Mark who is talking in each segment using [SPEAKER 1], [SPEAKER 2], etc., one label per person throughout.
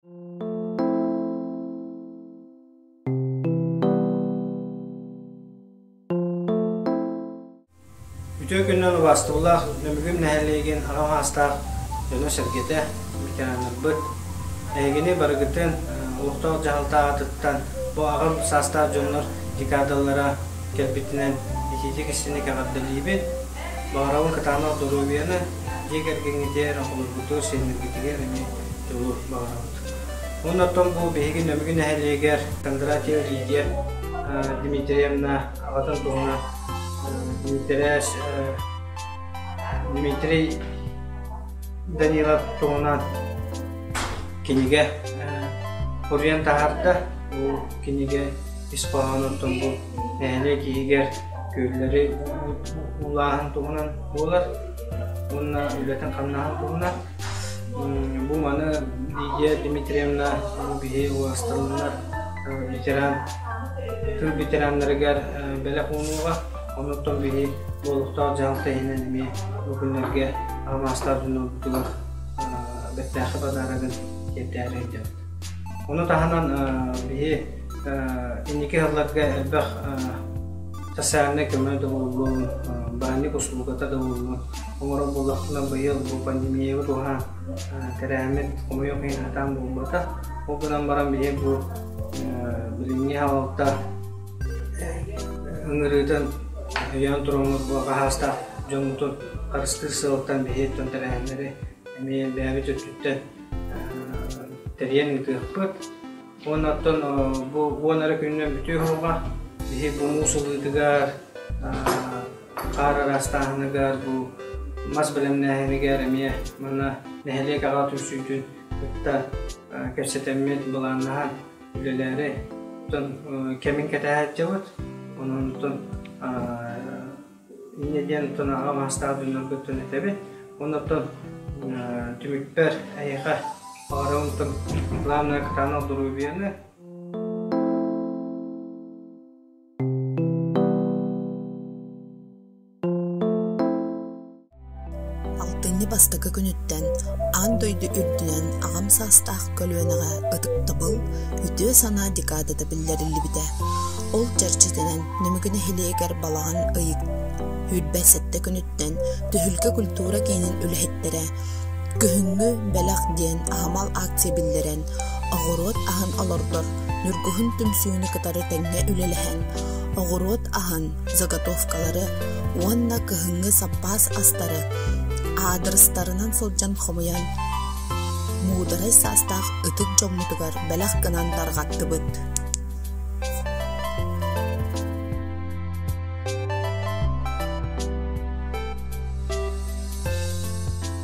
[SPEAKER 1] Үтүө күннэн убаастыбылаах Нөмүгүм нэһилиэгин аҕа маастаах дьоно-сэргэтэ, ветераннарбыт, эһигини барыгытын олохтоох дьаһалтаа атыттан бу аҕам саастаах дьоннор декадалара кэлбитинэн итиитик-истиник эҕэрдэлиибит. Баҕарабын кытаанах доруобуйаны, дьиэ кэргэҥҥитигэр, холобургутугар, сиэннэргитигэр эмиэ дьолу баҕарабыт. Уонна оттон бу биһиги Нөмүгү нэһилиэгэр Кондратьева Лидия Дмитриевна аҕатын туһунан Дмитрияш Дмитрий Данилов туһунан кинигэ уруйан таһарда. Бу кинигэ ис хоһоонуттан бу нэһилиэк иһигэр күөллэри уулааһын туһунан буолар уонна үлэтин хамнаһын туһунан Бу маны Лидия Дмитриевна биһи уосталыннар ветеран тыл ветераннарыгар бэлэх уунууга, онуттан биһи олохтоох дьаһалта иһинэн эмиэ бу күннэргэ алмаастаах дьоннорбутугар бэртээхи подарогын тиэрдээри өйдөбүт. Ону таһынан биһи инники сылларга элбэх социальнай көмө доҕоллон, баанньык усулуобуйата доҕоллон оҥорор буоллахпына быйыл бу пандемияҕа туһаан тэрээммит хомойуох иһин сатаан буолбатах ол гынан баран биһи бу билиҥҥи салалта ыҥырыытын өйөөн туруоммут бу хаһаастаах дьоммутун харыстыыр сыалтан биһи дьон тэрээһиннэри эмиэ элбээбит өттүттэн тэрийэн ыытыахпыт уонна оттон бу уон эрэ күнүнэн бүтүү оһоҕо биһи бу муус ылыытыгар хаар араастааһыныгар бу мас бэлэмнээһинигэр эмиэ манна нэһилиэкэҕэ түмсүүтүн кытта кэпсэтэммит былааннаһан үлэлээри кэмин кэтэһээччибит ононтон инньэ диэн оттон аҕа маастаах дьонноргуттан этэбит оннуттан түмүкпэр эйиэхэ баҕарабын главное кытаанах доруобуйаны Алтынньы бастакы күнүттэн аан дойду үрдүнэн аҕам саастаах көлүөнэҕэ ытыктабыл, үтүө санаа декадата биллэриллибитэ. Ол чэрчитинэн Нөмүгү нэһилиэгэр балаҕан ыйы сүүрбэ сэттэ күнүттэн Түһүлгэ культура киинин үлэһиттэрэ Күһүҥҥү бэлэх диэн аһымал акция биллэрэн, Оҕуруот аһын олордор ньургуһун түмсүүнү кытары тэҥҥэ үлэлэһэн, оҕуруот аһын, заготовкалары уонна кыһыҥҥы саппаас астары аадырыстарынан сылдьан хомуйан, муударай саастаах ытык дьоммутугар бэлэх гынан тарҕаттыбыт.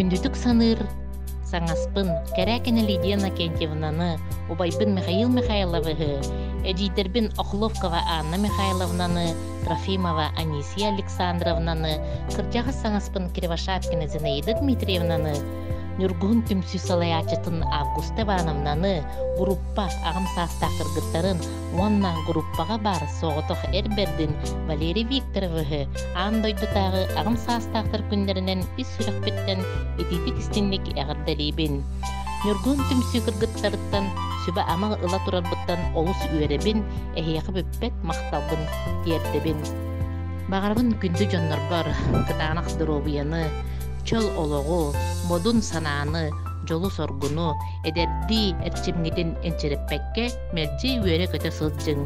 [SPEAKER 1] Күндүтүк саныыр саҥаспын Карякина Лидия Накентьевнаны, убайбын Михаил Михайловыһы, эдьиийдэрбин Охловкова Анна Михайловнаны Трофимова Анисия Александровнаны, кырдьаҕас саҥаспын Кривошапкины Зинаида Дмитриевнаны, Ньургуһун түмсүү салайааччытын Августа Ивановнаны, группа аҕам саастаах кыргыттарын уонна группаҕа баар соҕотох эр бэрдин Валерий Викторовыһы аан дойдутааҕы аҕам саастаахтар күннэринэн ис сүрэхпиттэн итиитик-истиҥник эҕэрдэлиибин. Ньургуһун түмсүү кыргыттарыттан сүбэ-ама ыла турарбыттан олус үөрэбин, эһиэхэ испэт махталбын тиэрдэбин. Баҕарабын күндү дьоннорбор кытаанах доруобуйаны, чөл олоҕу, модун санааны, дьолу-соргуну, эдэрдии эрчимҥитин энчирэппэккэ мэлдьи үөрэ-көтө сылдьыҥ.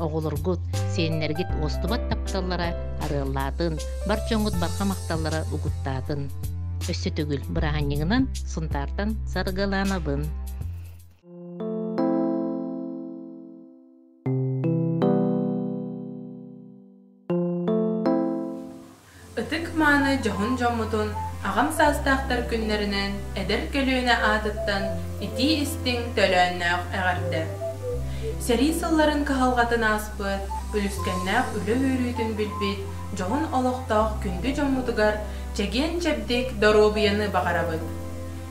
[SPEAKER 1] Оҕолоргут, сиэннэргит уостубат тапталлара арыаллаатын, бар дьоҥҥут барҕа махталлара угуттаатын. Өссө төгүл бырааһынньыгынан Сунтаартан Саргыланабын. Ытык-мааны дьоһун дьоммутун аҕам саастаахтар күннэринэн эдэр көлүөнэ аатыттан итии-истиҥ төлөөннөөх эҕэрдэ! Сэрии сылларын кыһалҕатын ааспыт, үлүскэннээх үлэ үөрүүтүн билбит дьоһун олохтоох күндү дьоммутугар чэгиэн-чэбдик доруобуйаны баҕарабыт!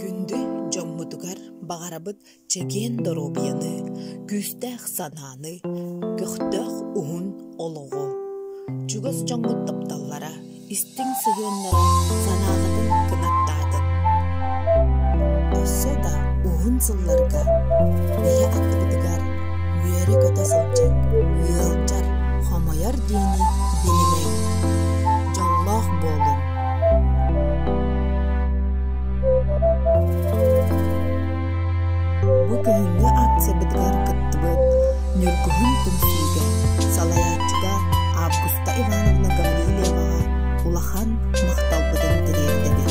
[SPEAKER 1] Күндү дьоммутугар баҕарабыт чэгиэн доруобуйаны, күүстээх санааны, көхтөөх уһун олоҕу. Чугас дьоҥҥут тапталлара, истиҥ сыһыаннара санааҕытын кынаттаатын. Өссө да уһун сылларга үөрэ-көтө сылдьар, ыалдьар, хомойор диэни билимэҥ, дьоллоох буолуҥ. Бу күһүҥҥү акциябытыгар кыттыбыт Ньургуһун түмсүүгэ салайааччыга Августа Ивановна Гаврильеваҕа улахан махталбытын тириэрдэбит.